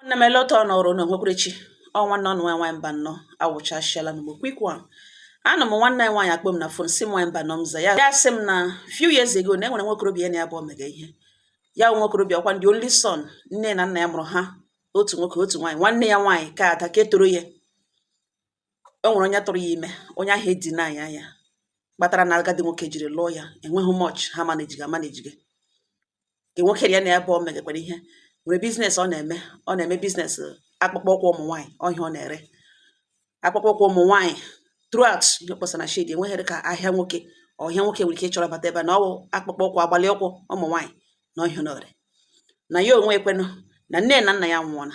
nwanne m eleta ọ nọrọ na onwekwerechi ọ nwanne unu nwaanyị nwaanyị Mbanọ awụchashịala n'ọgbọ quick one anọ m nwanne anyị nwaanyị akpọ m na phone sị m nwaanyị Mbanọ m za ya ya sị m na few years ago na enwere nwokorobịa na ya abụọ mega ihe ya wụ nwokorobịa ọkwa the only son nne na nna ya mụrụ ha otu nwoke otu nwaanyị nwanne ya nwaanyị ke ada ke tọrọ ya o nwere onye tụrụ ya ime onye ahụ edeny ya ya kpatara na agadi nwoke jiri lụọ ya enweghị much ha managege amanage ke nwoke ya na ya abụọ megakwara ihe nwere business ọ na-eme ọ na-eme business akpụkpọ ụkwụ ụmụ nwaanyị ọhịa ọ na-ere akpụkpọ ụkwụ ụmụ nwaanyị throughout ihe kpọsa na shade enweghịrị ka ahịa nwoke ọhịa nwoke nwere ike ịchọrọ bata ebe a na ọwụ akpụkpọ ụkwụ agbalị ụkwụ ụmụ nwaanyị na ọhịa ọ na-ere na ya onwe ya kwanụ na nne na nna ya anwụọla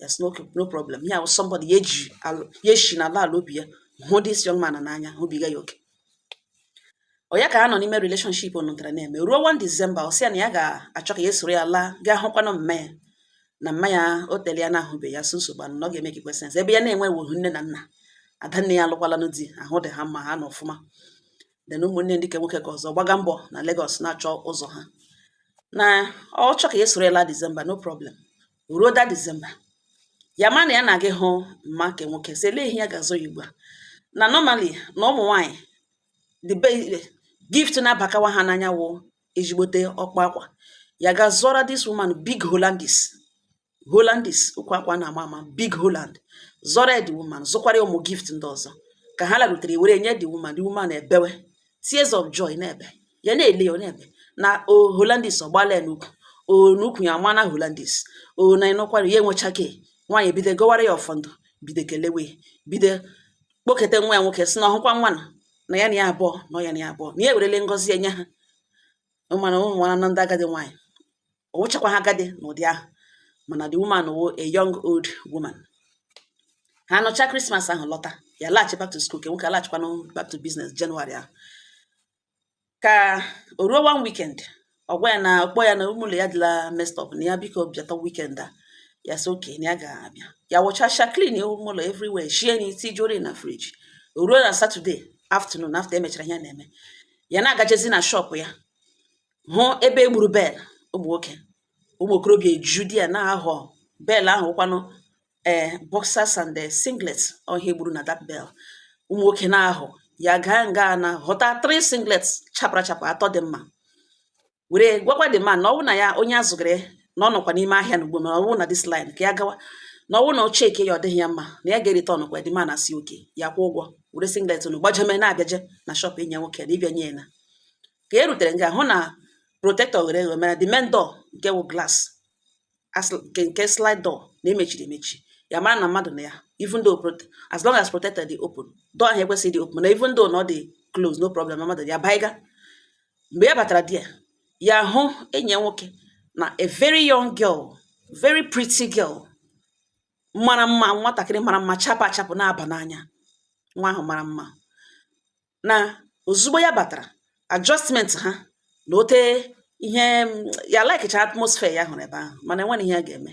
ya sị no problem ya wụ somebody ya eji ya eshi na ala obi ya hụ this young man n'anya hụbiga ya oke ọ ya ka ha nọ n'ime relationship ọ nọtara na-eme ruo 1 December ọ sị ya na ya ga-achọ ka ya soro ya laa gaa hụkwanụ mma ya na mma ya o tere ya na ahụbe ya so nsogbu anụ na ọ ga-emakekwa sense ebe ya na-enwewuhu nne na nna ada nne ya alụkwalanụ di ahụ dị ha mma ha nọ ọfụma then ụmụnne ndị ke nwoke ke ọzọ gbaga mbọ na Lagos na-achọ ụzọ ha na ọ chọ ka ya soro ya laa December no problem ruo that December ya ma na ya na-aga ịhụ mma ke nwoke sị elee ihe ya ga-azụ ya ugbu a na normally na ụmụ nwaanyị the best gift na-abakawa ha n'anya wụ ejigbote ọkpa akwa ya ga zụọra this woman big Hollandis Hollandis ụkwụ akwa a na-ama ama big Holland zụọra ya the woman zụkwara ya ụmụ gift ndị ọzọ ka ha larutere were nye the woman the woman ebewe tears of joy na-ebe ya na-ele ya na-ebe na Hollandis ọgbala ya n'ukwu o n'ukwu ya amaana Hollandis o na ịnọkwara ya enwecha ke nwaanyị bido gọwara ya ọfọ ndụ bido kelewe bido kpoketa nwa ya nwoke sị na ọ hụkwa nwa na na ya na ya abụọ na ya na ya abụọ na ya ewerele ngọzi ya nye ha mana unu manụ na ndị agadi nwaanyị ọ wụchakwaha agadi n'ụdị ahụ mana the woman wụ a young old woman ha nọcha Christmas ahụ lọta ya laghachi back to school ke nwoke alaghachikwanụ back to business January ahụ ka o ruo one weekend ọ gwa ya na ọ kpọ ya na ime ụlọ ya dịla messed up na ya biko bịata weekend a ya sị okay na ya ga-abịa ya wụchacha clean ime ụlọ everywhere shie nri tijuori na fridge o ruo na Saturday afternoon after emechara ihe a na-eme ya na-agajezi na shop ya hụ ebe e gburu bale ụmụ nwoke ụmụ okorobịa eju di ya na-ahọ bale ahụ kwanụ ee eh, boxers and eh, singlet ọhịa egburu na that bale ụmụ nwoke na-ahọ ya gaa nga na họta three singlet chapara chapa atọ dị mma were gwakwa the man na ọwụ na ya onye ya zụgara na ọ nọkwa n'ime ahịa na ugbo ma ọwụ na this line ka ya gawa na ọwụ na ọ checkie ya ọ dịghị ya mma na ya ga-ereturnụkwa the man asị okay ya kwụ ụgwọ were singlet unu gbajeme na-abịaje na shop enyi ya nwoke na ịbịa nye ya na ka e rutere nga hụ na protector ghere eghe mana the main door nke wụ glass nke nke slide door na emechiri emechi ya mara na mmadụ nọ ya even though as long as protector dị open door ahụ ekwesịghị dị open na even though na ọ dị close no problem na mmadụ ya baiga mgbe ya batara there ya hụ enyi ya nwoke na a very young girl very pretty girl mara mma nwatakịrị mara mma chapụ achapụ na-aba n'anya nwa ahụ mara mma na ozugbo ya batara adjustment ha na ote ihe ya likecha atmosphere ya hụrụ ebe ahụ mana enweghị ihe ya ga-eme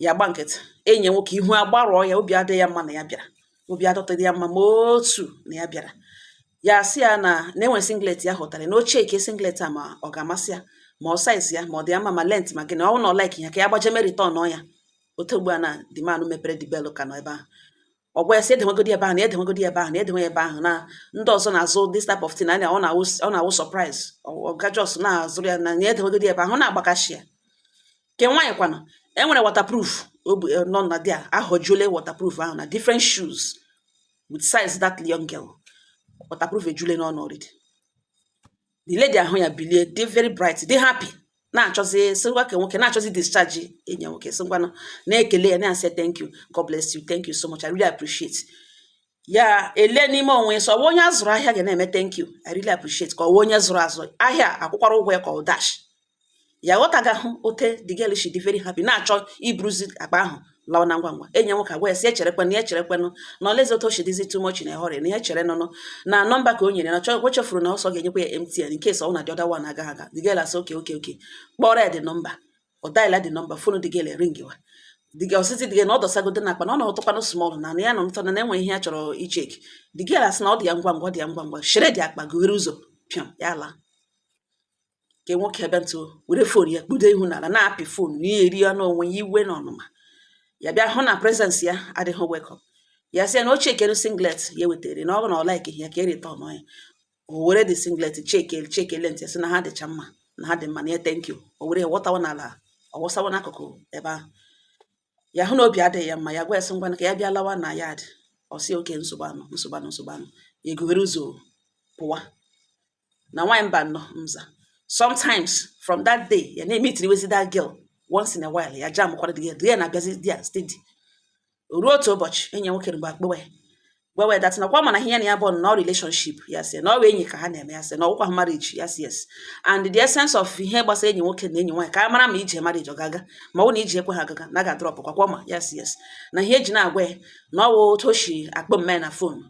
ya gba nkịtị enyi nwoke ihu agbarụọ ya obi adịghị ya mma na ya bịara obi adịtaghị ya mma ma otu na ya bịara ya sị ya na enwe singlet ya hụtara na o chekie singlet a ma ọ ga-amasị ya ma ọ size ya ma ọ dị ya mma ma length ma gịnị ọ bụ na ọ like ya ka ya gbaje me return ya otu ugbu a na the man mepere the bale ka nọ ebe ahụ ọ gwa ya sị edewegodi ebe ahụ na edewegodi ebe ahụ na edewe ebe ahụ na ndị ọzọ na-azụ this type of thing anya ọ na-awụ ọ na-awụ surprise ọ ga just na-azụrụ ya na na edewegodi ebe ahụ na-agbakashi ya ke nwaanyị kwana enwere waterproof obu eh, nọ na there ahọjuole waterproof ahụ na different shoes with size that young girl waterproof ejule n'ọnụ already the lady ahụ ya bilie dị very bright dị happy na-achọzi sị ngwa ke nwoke na-achọzi idischarge enyi ya nwoke sị ngwanụ na-ekele ya na-asị thank you God bless you thank you so much I really appreciate ya ele n'ime onwe ya sị ọ wụ onye a zụrụ ahịa ga na-eme thank you I really appreciate ka ọ wụ onye zụrụ azụ ahịa akwụkwara ụgwọ ya ka ọ dash ya ghọtaga hụ otu the girl shi dị very happy na-achọ iburuzi akpa ahụ lawa na ngwa ngwa enyi ya nwoke agwa ya sị ya cherekwanụ ya cherekwanụ na olezi otu o shi dịzi too much in a hurry na ya chere nụnụ na number ka o nyere na o chefuru na ọ sị ọ ga-enyekwa ya MTN in case ọ na the other one agaghị aga the girl asị okay okay okay kpọrọ ya the number ọ dial the number phone the girl ringiwa the girl ọ sị sị the girl na ọ dọsagodi akpa na ọ nọtụkwanụ small na ya nọ na enwe ihe ya chọrọ icheck the girl asị na ọ dị ya ngwa ngwa ọ dị ya ngwa ngwa shere the akpa gughere ụzọ pịam ya laa ke nwoke bịa ntụ were phone ya kpudo ihu n'ala na-apị phone na ihere ya n'onwe ya iwe na ọnụma ya bịa hụ na presence ya adịghị welcome ya sị ya na o chekere singlet ya wetara na ọ na ọ like ya ka ya return ya o were the singlet check le check length sị na ha dịcha mma na ha dị mma na ya thank you o were ya wọtawa n'ala ọ wọsawa n'akụkụ ebe ahụ ya hụ na obi adịghị ya mma ya gwa ya sị ngwa ka ya bịa lawa na yard ọ sị okay nsogbu anụ nsogbu anụ nsogbu anụ ya egughere ụzọ pụwa na nwaanyị mba nọ mza sometimes from that day ya na-emitiriwezi that girl once in a while ya jam kwara the girl the girl na-abịazi there steady ruo otu ụbọchị enyi ya nwoke mgbe akpọwa ya gwawa that na kwa mana ihe na ya bụ na relationship ya sị na ọ enyi ka ha na-eme ya sị na ọ wụkwa ha marriage ya sị yes and the essence of ihe gbasara enyi nwoke na enyi nwaanyị ka a mara ma ije marriage ọ ga-aga ma ọ na ije ekwe ha agaga na ga drop kwa kwa ma ya sị yes na ihe eji na-agwa ya na ọ wụ otu o si akpọ mme na phone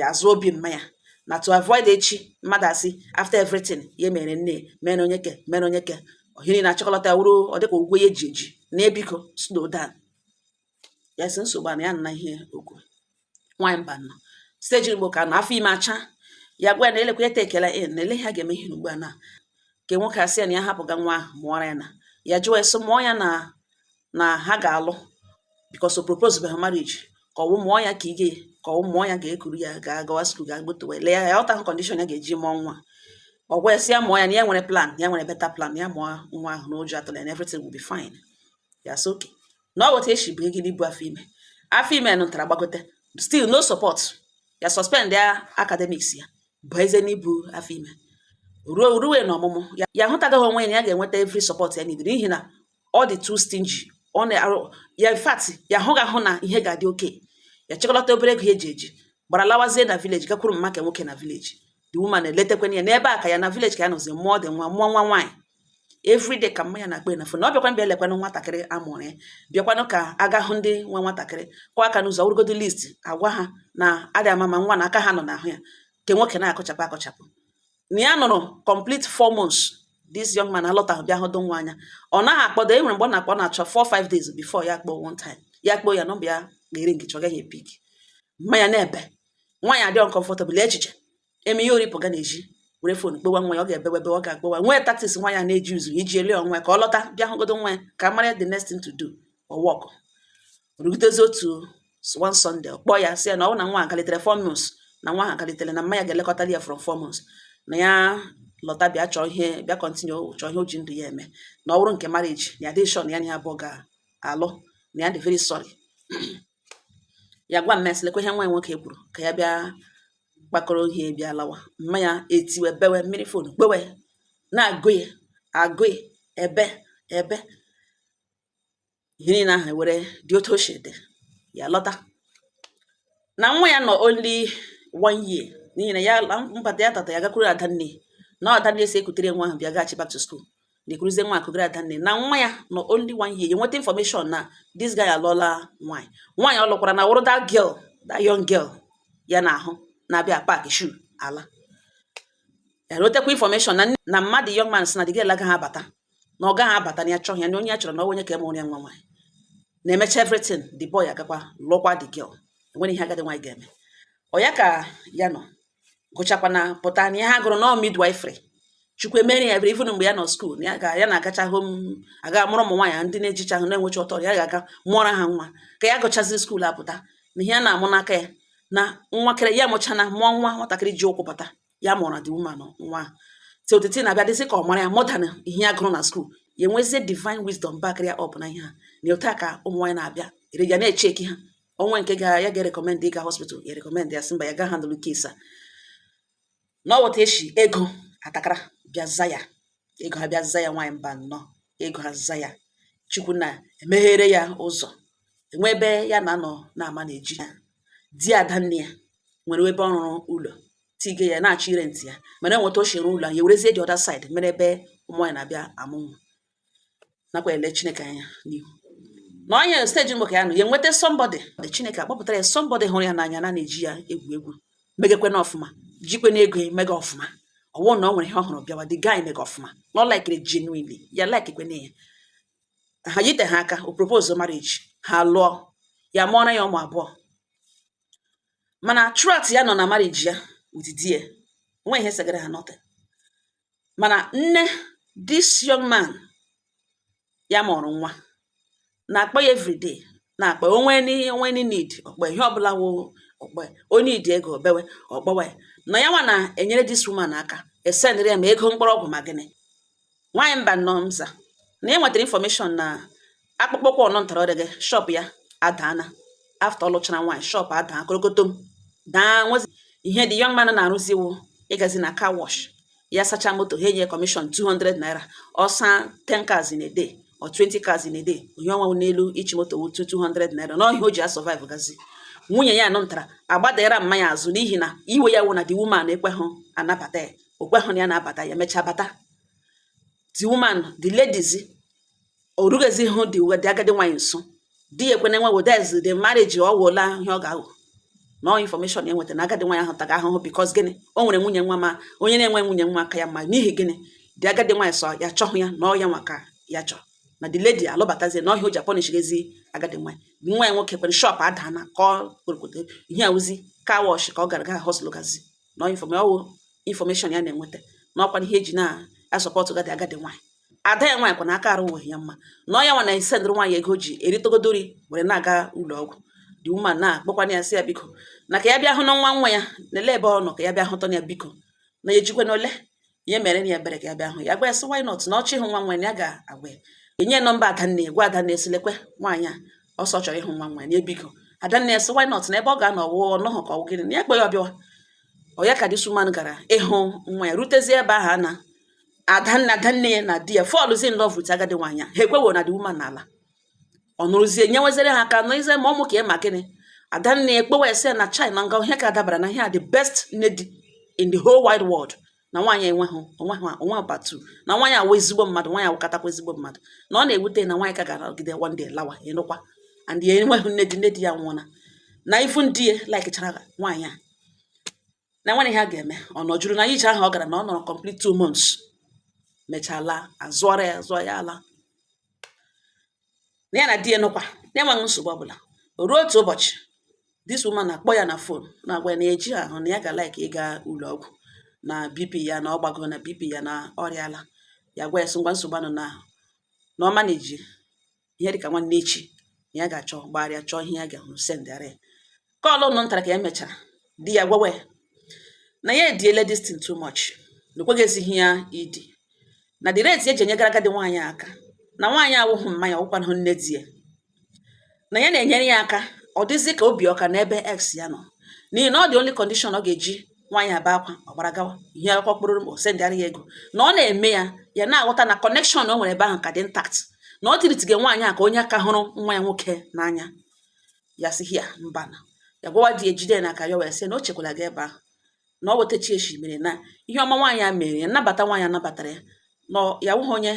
azụ obi mma ya na to avoid echi mmadụ asị after everything ya mere nne mere onye ke mere onye ke ohiri na chọkọlata wuru ọ dịka ụgwọ ya eji eji na ya biko slow down ya sị nsogbu a na ya nna ihe okwu nwaanyị mba nọ steji mgbe ka nọ afọ ime acha ya gwa ya na elekwa ete ekele in na ele ha ga-eme ihe ugbu a na nke nwoke asị ya na ya hapụga nwa ahụ mụọra ya na ya jụọ ya sị mụọ ya na na ha ga-alụ because o propose be ha marriage ka ọ wụ mụọ ya ka ị ga ka ọ wụ mụọ ya ga-ekuru ya ga-agawa skul ga gbotowe lee ya ya ọta kọndishọn ya ga-eji mụọ nwa ọ gwa ya mụọ ya na ya nwere plan ya nwere beta plan ya mụọ nwa ahụ na ụjọ atụla and everything will be fine ya sị okay na ọ weta echi bụ gị n'ibu afọ ime afọ ime nụtara gbagote still no support ya suspend ya academics ya bụ eze n'ibu afọ ime ruo ruwe na ọmụmụ ya hụtagaghị onwe ya na ya ga-enweta every support ya nidiri n'ihi na ọ dị too stingy ọ na-arụ ya in fact ya ahụghị ahụ na ihe ga-adị okay ya chịkọlata obere ego ya eji eji gbara lawazie na vileji gakwuru mma nke nwoke na vileji the woman eletekwana ya n'ebe a ka ya na vileji ka ya nọzi mụọ dị nwa mụọ nwa nwaanyị everyday ka mma ya na-akpọ na fon na ọ bịakwa bịa lekwanụ nwatakịrị amụrụ ya bịakwanụ ka a ga hụ ndị nwa nwatakịrị kụọ aka n'ụzọ weregodo list agwa ha na adị ama ma nwa na aka ha nọ n'ahụ ya nke nwoke na-akọchapụ akọchapụ na ya nọrọ complete four months this young man alọtaghị bịa hụdụ nwa anya ọ naghị akpọdo e nwere mgbe ọ na-akpọ na-achọ four five days before ya kpọọ one time ya kpọọ ya nọmba ya ga-eringịcha ọ gaghị epik mma ya na-ebe nwaanyị adịghị comfortable echiche eme ihe oripụ ga na-eji were fon kpewa nwa ya ọ ga-ebewe ebe ọ ga-agbawa nwee taktis nwa ya na-eji uzu iji ele onwe ka ọ lọta bịa hụgodo nwa ya ka mara the next thing to do ọ wọkụ rugidezi otu one Sunday kpọọ ya sị ya na ọ bụ na nwa akalitere four months na nwa ha akalitere na mma ya ga-elekọta ya from four months na ya lọta bịa chọọ ihe bịa kọntinye chọọ ihe o ji ndụ ya eme na ọ bụrụ nke marriage na ya adịghị shọ na ya na ya abụọ ga-alụ na ya dị very sorry ya gwa mma ya sị lekwa ihe nwa ya nwoke kwuru ka ya bịa kpakọrọ ihe bịa lawa mma ya etiwe bewe mịrị fon kpewe na-agụ ya agụ ya ebe ebe ihe niile ahụ were dị otu o si dị ya lọta na nwa ya nọ only one year n'ihi na ya mbata ya tata ya gakwuru ada nne na ada nne sị ya kutere nwa ahụ bịa gaghachi back to school na ya ekuruzie nwa ahụ kugara ada nne na nwa ya nọ only one year ya nweta information na this guy alụọla nwaanyị nwaanyị ọ lụkwaranụ wụrụ that girl that young girl ya na ahụ na-abịa pak shu ala ya nwetakwa information na mma the young man sị na the girl agaghị abata na ọ gaghị abata na ya chọghị ya na onye ya chọrọ na onye ka emụrụ ya nwa nwaanyị na-emecha everything the boy agakwa lụọkwa the girl enwere ihe agadi nwaanyị ga-eme ọ ya ka ya nọ gụchakwana pụta na ihe ya gụrụ na ọ midwifery chukwu emere ya ebere even mgbe ya nọ school ya ga ya na-agacha hom aga mụọrọ ụmụ nwaanyị ndị na-ejicha ahụ na-enwecha ọtọ ya ga-aga mụọra ha nwa ka ya gụchaziri school apụta na ihe a na-amụ n'aka ya na nwakere ya mụchana mụọ nwa nwatakịrị ji ụkwụ pụta ya mụọrọ the woman nwa ahụ so the thing abịa dịzi ka ọ mara ya more than ihe ya gụrụ na school ya enwezie divine wisdom backịrị ya up n'ihe a na otu a ka ụmụ nwaanyị na-abịara ya na-echeck ha o nwee nke ya ga-erecommend ịga hospital ya recommend ya sị mba ya ga handle case a na ọ wụ otu a e shi ego atakara bịa za ya ego a bịa za ya nwaanyị mba nnọọ ego a za ya chukwu na-emeghere ya ụzọ enwe ebe ya na-anọ na-ama na-eji ya di adanne ya nwere ebe ọ rụrụ ụlọ tige ya na-achọ ịrent ya mana enweta o si rụọ ụlọ ya werezie the other side mere ebe ụmụ nwaanyị na-abịa amụ nwa nakwa ele Chineke anya n'ihu na o nwe stage mgbe ka ya nọ ya enweta somebody Chineke akpọpụtara ya somebody hụrụ ya n'anya na na-eji ya egwu egwu megekwenụ ọfụma jikwenụ ego mega ọfụma ọ wụ na ọ nwere ihe ọ hụrụ bịawa the guy mega ọfụma na ọ likiri genuinely ya likekwenụ ya ha yite ha aka o propose marriage ha lụọ ya mụọra ya ụmụ abụọ mana throughout ya nọ na marriage ya with di ya nwe ihe segara ha nothing mana nne this young man ya mụrụ nwa na-akpọ ya everyday na-akpọ o nwe o nwe any need ọ kpọọ ihe ọbụla wụ ọ kpọọ ọ need ego o bewe ọ kpọwe na ya nwa na-enyere this woman aka esendịrị ya ma ego mkpụrụ ọgwụ ma gịnị nwaanyị mba nnọọ mza na ya nwetara information na akpụkpọ ụkwụ ọ nụtara the girl shop ya adaana after ọ lụchara nwaanyị shop adaa korokotom daa nwezi ihe the young man na-arụzi wụ ịgazi na car wash ya sacha moto ha enye commission 200 naira ọ saa 10 cars in a day or 20 cars in a day onye ọnwa n'elu ishi moto wụ 200 naira na ọ ihe a o ji asurvive gazi nwunye ya ọ nụtara agbadara mama ya azụ n'ihi na iwe ya wụ na the woman ekweghị anabata ya o kweghị na ya na-abata ya mechaa bata the woman the ladies o rughezihụ the wo the agadi nwaanyị nso di ya ekwena nowadays the marriage ọ wụola ihe ọ ga-aghọ na ọ information ya nweta na agadi nwaanyị ahụ taga ahụhụ because gịnị o nwere nwunye nwa ma onye na-enwe nwunye nwa aka ya mma n'ihi gịnị the agadi nwaanyị sị ya chọhụ ya na ọ ya nwa ka ya chọrọ na the lady alụbatazie na ọ ihe a o ji apunish gezi agadi nwaanyị the nwa ya nwoke kwere shop adaana ka ọ kporokote ihe ọ wụzi car wash ka ọ gara ga hustle gazi na ọ wụ information ya na-enweta na ọ kwa ihe ya ji na-asupport gadi agadi nwaanyị ada ya nwaanyị kwa na akaraghị ya mma na ọ ya nwa na-esendịrị nwaanyị ego o ji eritogodo nri were na-aga ụlọ ọgwụ the woman na-akpọkwana ya sị ya biko na ka ya bịa hụnụ nwa nwa ya na-ele ebe ọ nọ ka ya bịa hụtụ ya biko na ya ejikwa na ole ihe mere na ya ebere ka ya bịa hụ ya gwa ya sị why not na ọ chọọ ịhụ nwa nwa ya ga-agwa ya enye nọmba adanne gwa adanne sị lekwe nwaanyị a ọ sị ọ chọrọ ịhụ nwa nwa ya biko adanne ya sị why not na ebe ọ ga-anọ wụ ọ nọhụ ka ọ gịnị na ya kpọ ya ọ bịawa ọ ya ka this woman gara ịhụ nwa ya rutezie ebe ahụ a na adanne adanne ya na di ya fallzi in love with agadi nwaanyị ha ekwehụ na the woman ala ọ nọrọzie nyeweziri ha aka n'ịzụ ma ụmụaka ị ma gịnị adanne akpọwa ya sị na chai na ihe ka dabara na ihe a the best nne di in the whole wide world na nwaanyị enweghị o nweghị o nwe part two na nwaanyị a wụ ezigbo mmadụ nwaanyị a wụkatakwa ezigbo mmadụ na ọ na-ewute na nwaanyị ka ga-anọgide one day lawa ị nụkwa and ya enweghị nne di nne di ya nwụọna na ifu ndị ya likechara nwaanyị a na o nwere ihe a ga-eme ọ nọjuru na ije ahụ ọ gara na ọ nọrọ complete two months mechaa laa azụọra ya zụọ ya ala na ya na di ya nọkwa na-enweghị nsogbu ọbụla ruo otu ụbọchị this woman na-akpọ ya na phone na-agwa ya na ya ejighị ahụ na ya ga like ịga ụlọ ọgwụ na bp ya na ọ gbago na bp ya na ọ rịa ala ya gwa ya sị ngwa nsogbu anọhụ na na ọ manage ihe dịka nwanne echi ya ga-achọ gbagharịa chọọ ihe ya ga-ahụ sendịara ya kọlụ nụ ntara ka emechara di ya gwawa ya na ya ediele this thing too much na o kweghịzighị ya idi na the rate o ji enyegara agadi nwaanyị aka na nwaanyị awụghị mma ya ọ wụkwanahụ nne di ya na ya na-enyere ya aka ọ dịzị ka obi ọ ka n'ebe ex ya nọ n'ihi na ọ the only condition ọ ga-eji nwaanyị a bee akwa ọ gbara gawa ihe akwa kpụrụ o sendịara ya ego na ọ na-eme ya ya na-aghọta na connection o nwere ebe ahụ ka dị intact na ọ treatịge nwaanyị a ka onye ọ ka hụrụ nwa ya nwoke n'anya ya sị ya mba na ya gwawa di ejide n'aka ya wee sị na o chekwala gị ebe ahụ na ọ wetachi echi mere na ihe ọma nwaanyị a mere ya nnabata nwaanyị a nabatara ya na ya wụghị onye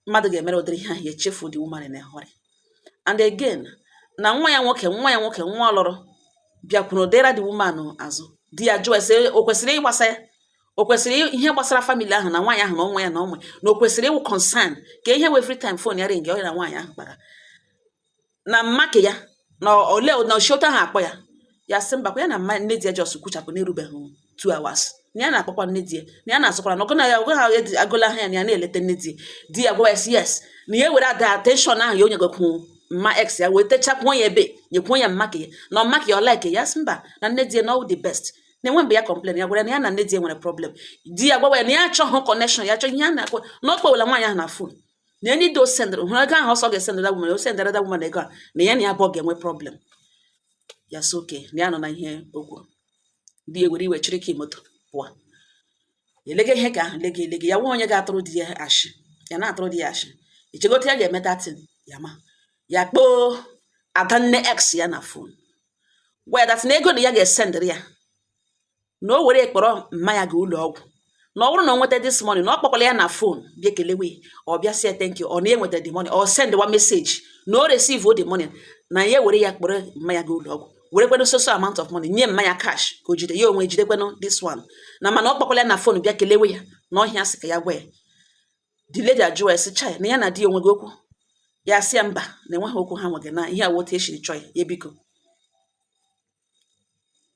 mmadụ ga-emere ụdịrị ihe ahụ ya echefu the woman in a hurry and again na nwa ya nwoke nwa ya nwoke nwa ọ lụrụ bịakwuru dera the woman azụ di ya jụọ ya sị o kwesịrị ịgbasa ya o kwesịrị ihe gbasara family ahụ na nwaanyị ahụ na ọnwa ya na ọnwa na o kwesịrị ịwụ concern ka ihe wụ every time phone ya ringịa ọ ya na nwaanyị ahụ kpara na mma nke ya na ole na o cheta ha akpọ ya ya sị mbakwa ya na mma nne di ya just kwuchapụ n'erubeghị two hours na ya na-akpọkwa nne di ya na ya na-azụkwara ya ọgwụ na ya ọgwụ ha agwụla ha ya na ya na-eleta nne di di ya gwa ya sị yes na ya were that attention ahụ ya o nyegakwu mma ex ya wee techakwuo ya ebe nyekwuo ya mma nke ya na mma nke ya ọ like ya sị mba na nne di ya na all the best na e nwe mgbe ya complain ya gwara na ya na nne di ya nwere problem di ya gwawa ya na ya achọghị connection ya achọghị ihe a na-akpọ na ọ kpọwela nwaanyị ahụ na phone na any day o sendịrị hụrụ ego ahụ ọ sị ọ ga-esendịrị the woman o sendịrị the woman ego a na ya na ya abụọ ga-enwe problem ya sị okay na ya anụna ihe o kwu di ya were iwe chịrị key moto pụọ elege ihe ka ahụ lege elege ya nwa onye ga-atụrụ di ya ashị ya na-atụrụ di ya ashị i chegote ya ga-eme that thing ya ma ya kpọọ adanne ex ya na phone gwa ya that thing ego na ya ga-esendịrị ya na o were kpọrọ mma ya ga ụlọ ọgwụ na ọ bụrụ na ọ nweta this money na ọ kpọkwala ya na fon bịa kelewe ọ bịa say thank you ọ na enweta the money ọ send wa message na o receive the money na ya were ya kpọrọ mama ya gaa ụlọ ọgwụ werekwanụ so so amount of money nye mama ya cash ka o jide ya onwe jidekwanụ this one na mana ọ kpọkwala ya na fon bịa kelewe ya na ọ ihe ya sị ka ya gwa ya the lady ajụ ya sị chai na ya na di ya o nweghị okwu ya sị ya mba na enweghị okwu ha nweghị na ihe a wụ otu e shiri chọọ ya biko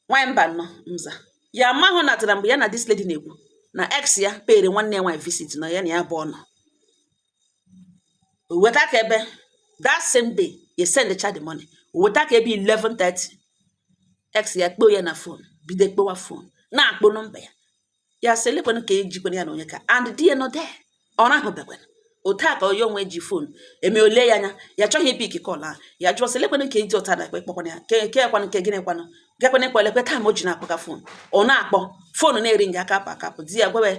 nwaanyị mba nọ mza ya amahụ natara mgbe ya na this lady na-ekwu na ex ya pere nwanne ya nwaanyị visit na ya na ya bu ọnụ weta ka ebe that same day ya send cha the money weta ka ebe 11:30 ex ya kpọọ ya na fon bido kpọwa fon na-akpọ nọmba ya ya sị elekwana ka ejikwana ya na onye ka and di ya nọ there ọ rahụbekwana otu a ka onye onwe ji fon eme o lee ya anya ya chọghị ipik kọl ahụ ya jụọ sị elekwana ka eji ọta na ekpe kpọkwana ya ke ke kwanụ nke gịnị kwanụ gekwana ekwe elekwe taa ma o ji na-akpọga fon ọ na-akpọ fon na-eringa aka apụ akapụ di ya gwawe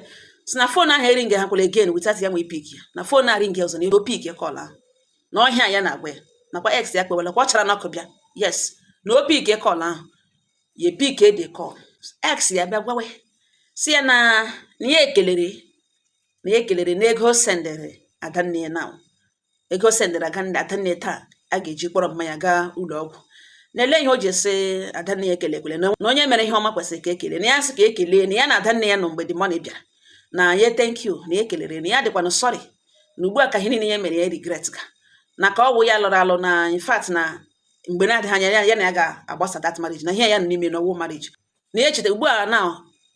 si na fon ahụ eringa ha kwere again without ya nwee pik ya na fon na-eringa ọzọ na ya ga-epik kọl ahụ na ọ ihe ya na-agwa ya nakwa ex ya kpọwala kwa ọ chara n'ọkụ bịa yes na o pik kọl ahụ ya pick the call ex ya bịa gwawa si ya na na ya ekelere na ya ekelere na ego o sendere adanne ya now ego o sendere adanne adanne taa a ga-eji kpọrọ mama ya gaa ụlọ ọgwụ na olee ihe o ji esi adanne ya ekelekwele na onye mere ihe ọma kwesịrị ka e kelee na ya sị ka e kelee na ya na adanne ya nọ mgbe the money bịara na ya thank you na ya ekelere na ya dịkwanụ sorry na ugbu a ka ihe niile ya mere ya regret ga na ka ọ wụ ya lụrụ alụ na in fact na mgbe na-adịghị anya ya ya na ya ga-agbasa that marriage na ihe ya nọ n'ime na ọ wụhụ marriage na ya echetara ugbu a na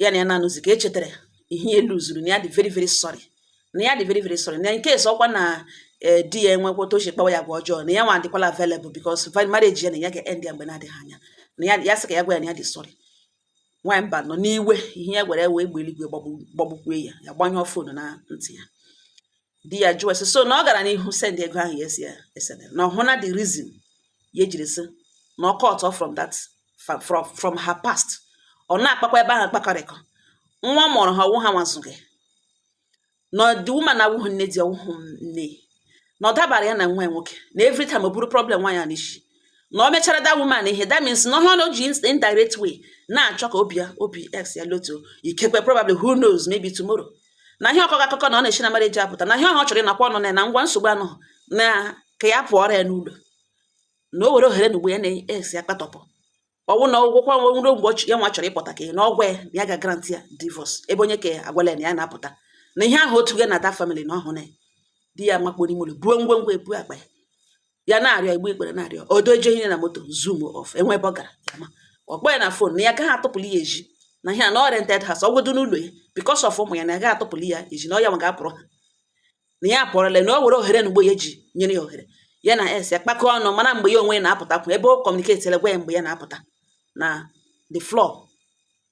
ya na ya na-anọzi ka ya chetara ihe ya luzuru na ya dị very very sorry na ya dị very very sorry na nke esi ọ kwa na eh, di ya enwekwa otu o si kpawa ya agwa ọjọọ na ya nwa adịkwala available because marriage ya na ya ga-end ya mgbe na-adịghị anya na ya ya sị ka ya gwa ya na ya dị sorry nwaanyị mba nọ n'iwe ihe ya gwara ya wụ egbe eluigwe gbagbukwe ya ya gbanyụọ fon na ntị ya di ya jụọ sị so na ọ gara n'ihu send ego ahụ ya esi ya esede na ọ wụ na the reason ya ejiri sị na ọ cut off from that fa- from, from her past ọ na-akpakwa ebe ahụ kpakọrịkọ nwaanyị mụrụ ha ọ wụ ha nwazụghị na the woman awụghị nne di ọ wụghị nne na ọ dabara ya na nwa ya nwoke na every time o buru problem nwaanyị a n'isi na o mechara that woman ihe that means na ọ wụrụ na o ji ins- indirect way na-achọ ka obi ya obi ex ya lotuo ikekwe probably who knows maybe tomorrow na ihe ọ kọkọ akụkọ na ọ na-esi na marriage apụta na ihe ọha ọ chọrọ ịnọkwa ọnụ na na ngwa nsogbu anụ na ka ya pụọrọ ya n'ụlọ na o were ohere na ugbu a ya na ex ya akpatọpụ ọnwụ na ọ wụkwa nwe nwere mgbe ya nwa chọrọ ịpụta ka na ọ gwa ya na ya ga-agrant ya divorce ebe onye ka agwala na ya na-apụta na ihe ahụ otu gị na that family na ọ wụrụ ya di ya makpuru ime ụlọ buo ngwongwo ebu akpa ya ya na-arịọ egbu ikpere na-arịọ o doje ihe na moto zoom off enwe ebe ọ gara ya ma ọ kpọ ya na fon na ya gaghị atụpụli ya ezi na ihe a na ọ rented house ọ godu n'ụlọ ya because of ụmụ ya na ya gaghị atụpụli ya ezi na ọ ya nwa ga-apụrụ ha na ya apụọrọla na o were ohere na ugbo ya ji nyere ya ohere ya na ex ya kpakọọ ọnụ mana mgbe ya onwe ya na-apụta kwụ ebe o kọmuniketila gwa ya mgbe ya na-apụta na the floor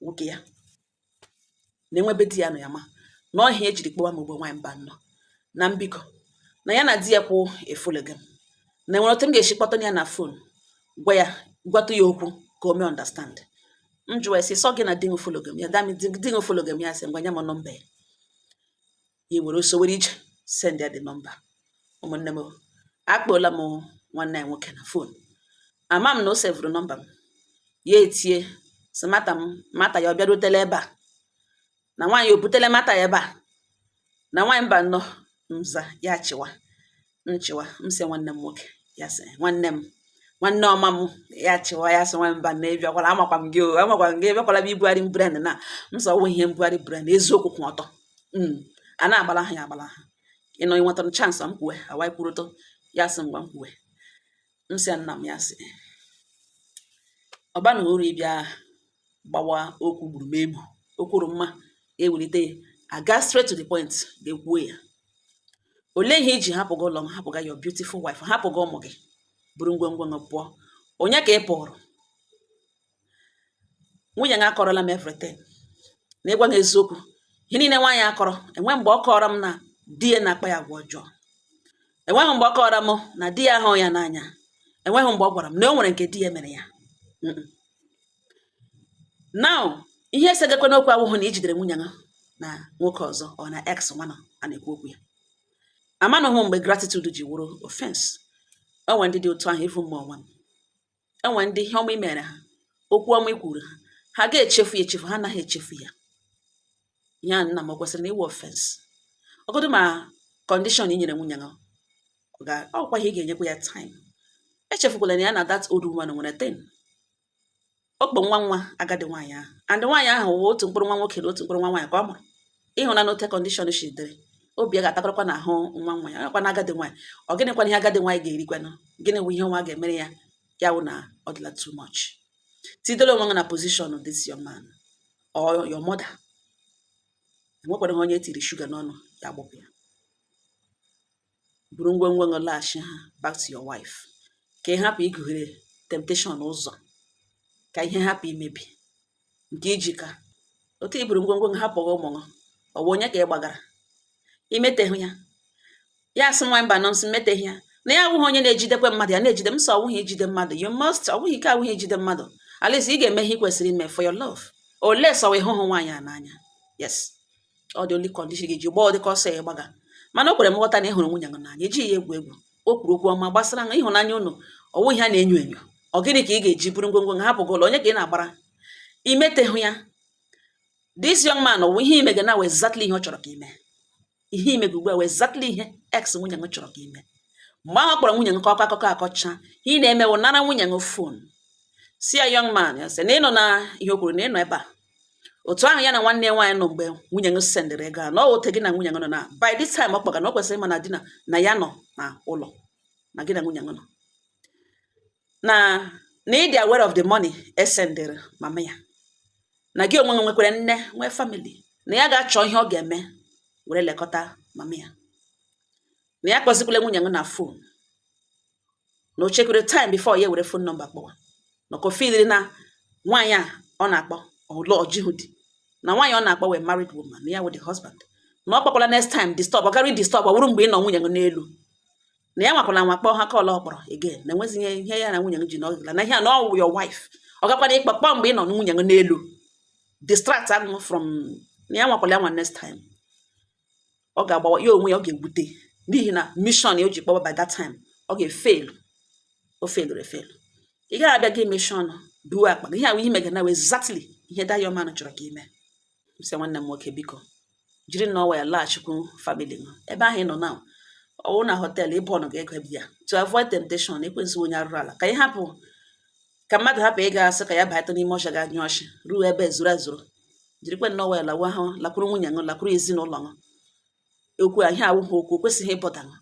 nwoke ya na enwe ebe di ya nọ ya ma na ọ ihe ya jiri kpọwa mụ bụ nwaanyị Mbano na m biko na ya na di ya kwụ efologa m na enwere otu m ga-esi kpọta ya na fon gwa ya gwatụ ya okwu ka o mee ọndastandị m jụwa ya sị so gị na di m fologa m ya dami di m fologa m ya sị ngwa nye m nọmba ya ya ewere ọsọ were ije send ya the number ụmụnne m o, akpọla m nwanne anyị nwoke na fon ama m na o sevụrụ nọmba m ya etie sị mata m mata ya ọ bịarutela ebe a na nwaanyị o butela mata ya ebe a na nwaanyị Mbano m za ya chịwa m chịwa m sị nwanne m nwoke ya sị nwanne m nwanne ọma m ya chịwa ya sị nwaanyị Mbano ịbịakwala amakwa m gị o amakwa m gị ịbịakwala m ibugharị brain na m sị ọ wụ ihe mbugharị brain eziokwu kwụ ọtọ hmm. a na-agbalaha ya agbalaha ị nọ i nwetara chansị m kwuwe anyị kwurutụ ya sị ngwa m kwuwe m sị nna m ya sị ọ baghị uru ịbịa gbawa okwu gburugburu o kwuru mma ewelite ya aga straight to the point gaa kwuo ya olee ihe i ji hapụga ụlọ gị hapụga your beautiful wife hapụga ụmụ gị buru ngwongwo gị pụọ onye ka ị pụụrụ nwunye gị akọọrọla m everything na ịgwa gị eziokwu ihe niile nwaanyị akọrọ enwe mgbe ọ kọọrọ m na di ya na-akpa ya agwa ọjọọ enweghị mgbe ọ kọọrọ m na di ya ahụ ya n'anya enweghị mgbe ọ gwara m na o nwere nke di ya mere ya now ihe esegakwanụ okwu awụhụ na i jidere nwunye ya na nwoke ọzọ ọ na ex nwanụ a na-ekwu okwu ya amanụghị mgbe gratitude ji wụrụ offense ọ nwere ndị dị otu ahụ ịfụ mma ọnwa m e nwere ndị ihe ọma i meere ha, okwu ọma i kwuuru ha, ha ga-echefu ya echefu, ha anaghị echefu ya. Ihe a nna m o kwesịrị na ịwụ ọfensi? Ọ godu ma kọndishọn i nyere nwunye gị ọ ga ọ kwa ihe ị ga-enyekwa ya taịm. Echefukwala na ya na that old woman nwere thing. Ọ kpọ nwa nwa agadi nwaanyị ahụ and nwaanyị ahụ wụ otu mkpụrụ nwa nwoke na otu mkpụrụ nwa nwaanyị ka ọ mụrụ. ị hụ na n'otu kọndishọn si dịrị obi ya ga-atakarakwa n'ahụ nwa nwa ya nakwa na agadi nwaanyị ọ gịnịkwanụ ihe agadi nwaanyị ga-erikwanụ gịnị wụ ihe nwa ga-emere ya ya wụ na ọ dịla too much tidela onwe gị na pozishọn this young man or your mother enwekwaraha onye e tiri shuga n'ọnụ ya gbụpụ ya buru ngwongwo gị laghachi ha back to your wife ka ị hapụ igughere temptation ụzọ ka ihe hapụ imebi nke iji ka otu iburu ngwongwo gị hapụ ụmụ gị ọ bụ onye ka ị gbagara imeteghị ya ya sị nwa mba no m sị meteghị ya na ya awụghị onye na-ejidekwa mmadụ ya na-ejide m sị ọ wụghị ijide mmadụ you must ọwụghị ike awụghị ijide mmadụ at least ị ga-eme ihe ị kwesịrị ime for your love unless ọ wụ ị hụhụ nwaanyị a n'anya yes ọ the only condition ga-eji gbaa ụdịka ọsọ ya gbaga mana o kwere m nghọta na ị hụrụ nwunye gị n'anya ejighị ya egwu egwu o kwuru okwu ọma gbasara na ịhụnanya unu ọ wụghị ihe a na-enyo enyo ọ gịnị ka ị ga-eji buru ngwongwo gị hapụ ụlọ onye ka ị na-agbara imetehụ ya this young man wụ ihe ị mega na wụ exactly ihe ọ chọrọ ka i mee ihe ị mega ugbu a wụ exactly ihe ex nwunye gị chọrọ ka i mee mgbe ahụ ọ kpọrọ nwunye gị ka ọ kọ akụkọ akọcha ihe ị na-eme wụ nara nwunye gị fon sị ya young man ya sị na ị nụna ihe o kwuru na ị nọ ebe a otu ahụ ya na nwanne ya nwaanyị nọ mgbe nwunye gị sendịrị ego a na ọ otu gị na nwunye gị nọ na by this time ọ kpọga na o kwesịrị ịma na di na na ya nọ na ụlọ na gị na nwunye gị nọ na na ị dị aware of the money e sendịrị mama ya na gị onwe gị nwekwara nne nwee family na ya ga-achọ ihe ọ ga-eme were lekọta mama ya na ya kpọzikwala nwunye gị na fon na o chekwere time before ya were fon nọmba kpọwa maka o filiri na nwaanyị a ọ na-akpọ ọlụ o jihụ di na nwaanyị ọ na-akpọ wụ a married woman na ya wụ the husband na ọ kpọkwala next time disturb ọ gara disturb ọ wụrụ mgbe ị nọ nwunye gị n'elu na ya nwakwala nwa kpọọ ha call a ọ kpọrọ again na enweghị ihe ihe ya na nwunye gị ji n'ọgịla na ihe a na ọ wụ your wife ọ gakwara ịkpọ kpọọ mgbe ị nọ nwunye gị n'elu distract gị from na ya nwakwala ya nwa next time ọ ga-agbawa ya onwe ya ọ ga-ewute n'ihi na mission ya o ji kpọwa by that time ọ ga-efelu o feluru efelu ị gaghị abịa gị meshie ọnụ buwe akpa gị ihe ahụ ị mega na wụ exactly ihe that young man chọrọ ka i mee sị nwanne m nwoke biko jiri nwayọ laghachikwu famili gị ebe ahụ ị nọ na ọ wụ na họteelụ ịbụ ọnụ ga-ego ebe ya to avoid temptation ekwensu onye arụrụ ala ka ị hapụ ka mmadụ hapụ ịga asị ka ya bata n'ime ọsha ga nyụọ nshị ruo ebe zuru ezuru jirikwa nwayọ lawa ahụ lakwuru nwunye gị lakwuru ezinụlọ gị okwu ihe a awụghị okwu o kwesịghị ịbọda gị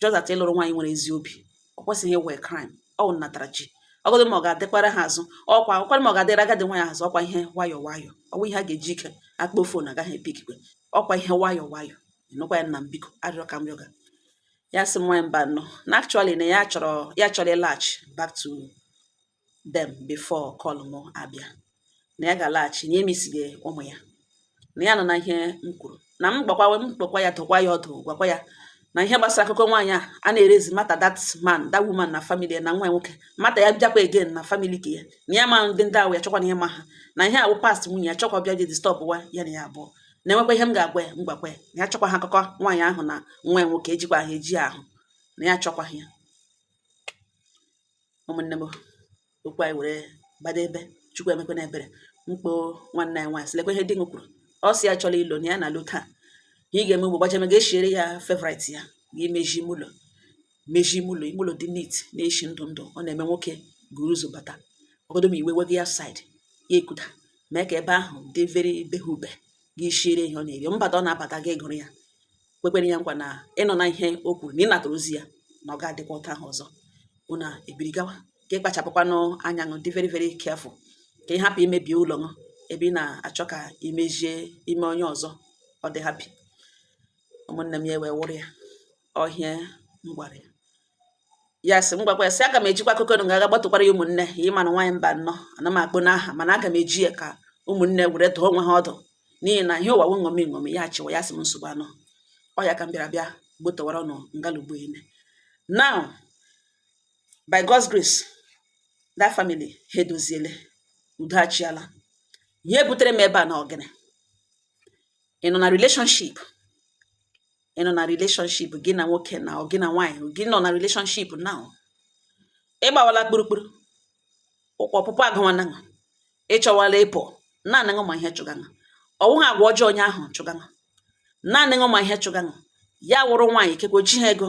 just that ị lụrụ nwaanyị nwere ezi obi ọ kwesịghị ịwụ a crime ọ wụ natara ji ọgọdụ ma ọ ga-adịkwara ha azụ ọkwa ọkwara ma ọ ga-adịra agadi nwaanyị azụ ọkwa ihe nwayọ nwayọ ọ wụ ihe a ga-eji ike akpọ fon agaghị epikikwe ọkwa ihe nwayọ nwayọ ị nụkwa ya nna m biko arịrịọ ka m rịọga ya sị m nwa mba no na actually na ya chọrọ ya chọrọ ịlaghachi back to them before call m abịa na ya ga-alaghachi na emisiga ụmụ ya na ya anụna ihe m kwuru na m gbakwa m kpọkwa ya dụkwa ya ọdụ gwakwa ya na ihe gbasara akụkọ nwaanyị a a na-erezi matter that man that woman na family na nwa nwoke matter ya bịakwa again na family ka ya na ya ma ndị ndị ahụ ya chọkwa na ihe ma ha na ihe a wụ past nwunye ya chọkwa bịa disturbwa ya na ya abụọ na-enwekwa ihe m ga-agwa ya m gwakwa ya na ya chọkwa ha akụkọ nwaanyị ahụ na nwa ya nwoke ejikwa ha eji ahụ na ya chọkwa ya ụmụnne m okwu anyị were gbado ebe chukwu emekwana ebere m kpọọ nwanne anyị nwaanyị sị lekwa ihe di m kwuru ọ sị ya chọrọ ịlọ na ya na-alọ taa ihe ị ga-eme ugbo gbajeme gaa shiere ya favorite ya gaa meji ime ụlọ meji ime ụlọ ime ụlọ dị neat na-eshi ndụ ndụ ọ na-eme nwoke guru ụzọ bata ọgodo ma iwe wega ya side ya e-cool down mee ka ebe ahụ dị very behube gị shiere ihe ọ na-eri mbata ọ na-abata gị gụrụ ya kwekwere ya nkwa na ị nọ na ihe o kwuru na ị natara ozi ya na ọ ga-adịkwa otu ahụ ọzọ unu ebiri gawa gị kpachapụkwanụ anya ṅụ dị very very careful ka ị hapụ imebi ụlọ ṅụ ebe ị na-achọ ka i mejie ime onye ọzọ ọ dị happy ụmụnne m ya wee wụrụ ya ọ ihe m gwara ya ya sị m gwakwa ya sị aga m ejikwa akụkọ ṅụ ga aga gbatụkwara ya ụmụnne ya ị ma na nwaanyị mba nnọọ ana m akpọ ṅụ aha mana aga m eji ya ka ụmụnne were dụọ onwe ha ọdụ n'ihi na ihe ụwa wụ ṅomi ṅomi ya achịwa ya sị m nsogbu anọ ọ ya ka m bịara bịa gbotowara unu ngalugbo ile now by God's grace that family ha edoziele udo achịala ihe butere m ebe a na ọ gịnị ị nọ na relationship ị nọ na relationship gị na nwoke na gị na nwaanyị gị nọ na relationship now ị gbawala kpurukpuru ụkwụ ọpụpụ agụwana ṅụ ị chọwala ịpụ naanị ṅụ ma ihe chụga ṅụ ọ wụghị agwa ọjọọ onye ahụ chụga ṅụ naanị ṅụ ma ihe chụga ṅụ ya wụrụ nwaanyị ikekwe o jihụ ego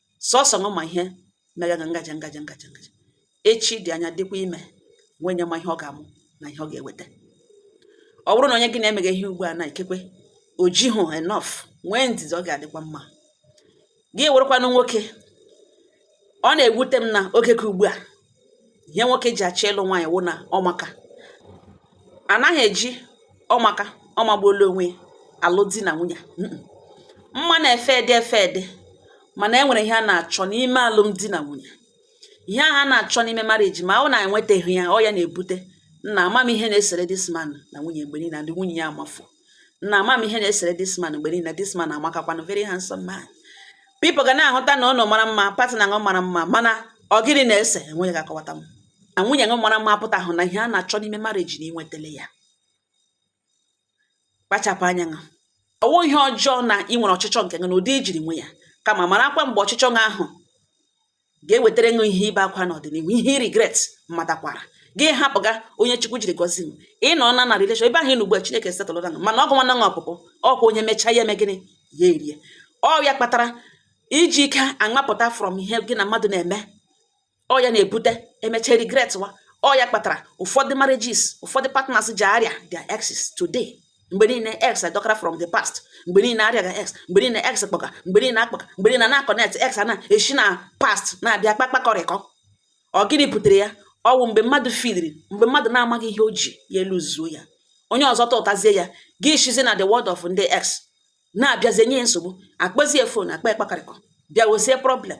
sọsọ ṅụ ma ihe megaga ngaji ngaji ngaji ngaji echi dị anya dịkwa ime nwee onye ma ihe ọ ga-amụ na ihe ọ ga-eweta ọ bụrụ na onye gị na-emega ihe ugbu a na ikekwe o jihụ enough nwee ndidi ọ ga-adịkwa mma gị wụrụkwanụ nwoke ọ na-ewute m na oge ka ugbu a ihe nwoke ji achọ ịlụ nwaanyị wụ na ọmaka anaghị eji ọmaka ọmagbuola onwe alụ di na nwunye mma na-efade efade mana e nwere ihe a na-achọ n'ime alụmdi na nwunye ihe ahụ a na-achọ n'ime marriage ma ọ wụ na enwetaghị ya ọ ya na-ebute nna ama m ihe na-esere this man na nwunye mgbe niile na ndị nwunye ya amafu nna ama m ihe na-esere this man mgbe niile this man amakakwanụ very handsome man people ga na-ahụta na ụlọ mara mma partner ṅụ mara mma mana ọ gịnị na-ese enweghị ga-akọwata m na nwunye ṅụ mara mma apụtahụ na ihe a na-achọ n'ime marriage na i nwetele ya kpachapụ anya ṅụ ọ wụ ihe ọjọọ na ị nwere ọchịchọ nke ṅụ na ụdị i jiri nwe ya kama marakwa mgbe ọchịchọ ṅụ ahụ ga-ewetara ṅụ ihe ibe akwa n'ọdịnihu ihe regret matakwara gị hapụga onye chukwu jiri gọzie ṅụ ị nọ na na relation ebe ahụ ị nọ ugbu a chineke setụlụra ṅụ mana ọ gụwana ṅụ ọpụpụ ọ kwa onye mechaa ya eme gịnị ya erie ọ ya kpatara iji ike aṅapụta from ihe gị na mmadụ na-eme ọ ya na-ebute emecha regret wa ọ ya kpatara ụfọdụ marriages ụfọdụ partners ji arịa their exes today mgbe niile ex adọkara from the past mgbe niile arịaga ex mgbe niile ex kpọka mgbe niile akpọka mgbe niile na-akọnet ex a na-esi na past na-abịa kpakpakọrịkọ ọ gịnị butere ya ọ wụ mgbe mmadụ feelịrị mgbe mmadụ na-amaghị ihe o ji ya eluzuo ya onye ọzọ tụtazie ya gị eshizi na the world of ndị ex na-abịazi enye nsogbu akpọzie fon akpa ekpakarịkọ bịa wezie problem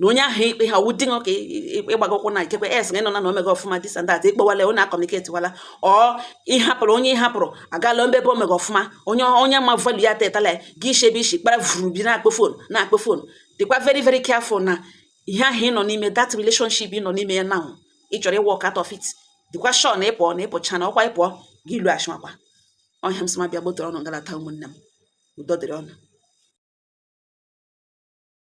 na onye ahụ ikpe ha wụ di gị ka ịgbago ụkwụ na ikekwe ex gị nọ na na o mega ọfụma this and that ịkpọwala onye akọmuniketiwala ọ ịhapụrụ onye ịhapụrụ agala mbebe o mega ọfụma onye onye ma value ya tụtala gị i shi ebe i shi kpara vuru bịa na-akpọ fon na-akpọ fon dịkwa very very careful na ihe ahụ ị nọ n'ime that relationship ị nọ n'ime ya now ị chọrọ ịwalk out of it dịkwa sure na ịpụọ na ịpụcha na ọkwa ịpụọ gị ilu achịmakwa ọhịa m sị ma bịa gbotere ụnụ ngalata ụmụnne m udo dịrị ụnụ